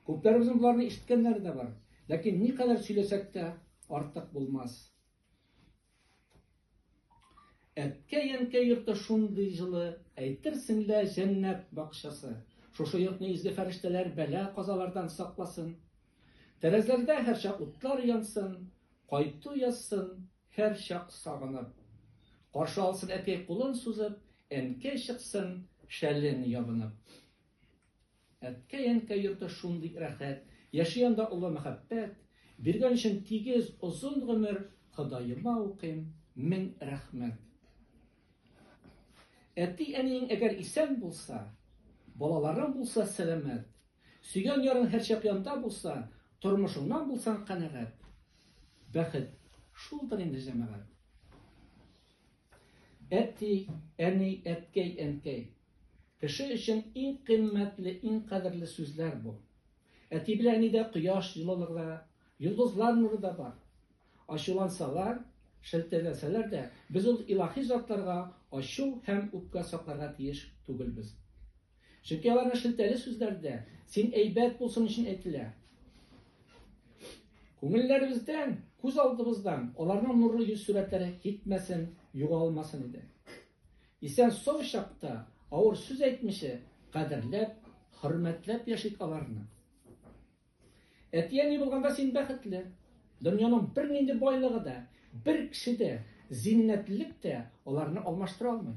Күпләребезнең боларны ишеткәннәре дә бар. Ләкин никадәр сөйләсәк тә артык булмас. Әткәй-әнкәй йорты шундый җылы, әйтерсең лә җәннәт бакчасы. Шушы йортны изге фәрештәләр бәла казалардан сакласын. Тәрәзәләрдә һәрчак утлар янсын, кайту язсын, һәрчак сагынып. Каршы алсын әткәй кулын сузып, әнкәй чыксын шәлен ябынып. Әткәй-әнкәй йорты шундый рәхәт, Яши анда олы мәхәббәт. Биргән өчен тигез, озын гомер, Ходаема укыйм, мең рәхмәт. Әти-әниең әгәр исән булса, Балаларың булса сәламәт, Сөйгән ярың һәрчак янда булса, Тормышыңнан булсаң канәгать. Бәхет шулдыр инде, җәмәгать. Әти, әни, әткәй, әнкәй, Кеше өчен иң кыйммәтле, иң кадерле сүзләр бу. Әти белән әнидә кояш җылылыгы да, йолдызлар нуры да бар. Ачулансалар, шелтәләсәләр дә, без ул илаһи затларга ачу һәм үпкә сакларга тиеш түгелбез. Чөнки аларның шелтәле сүзләре дә син әйбәт булсын өчен әйтелә. Күңелләребездән, күз алдыбыздан аларның нурлы йөз сурәтләре китмәсен, югалмасын иде. Исән-сау чакта авыр сүз әйтмичә, кадерләп, хөрмәтләп яшик аларны. Әти-әни булганда син бәхетле. Дөньяның бернинди байлыгы да, бер кеше дә, зиннәтлелек тә аларны алмаштыра алмый.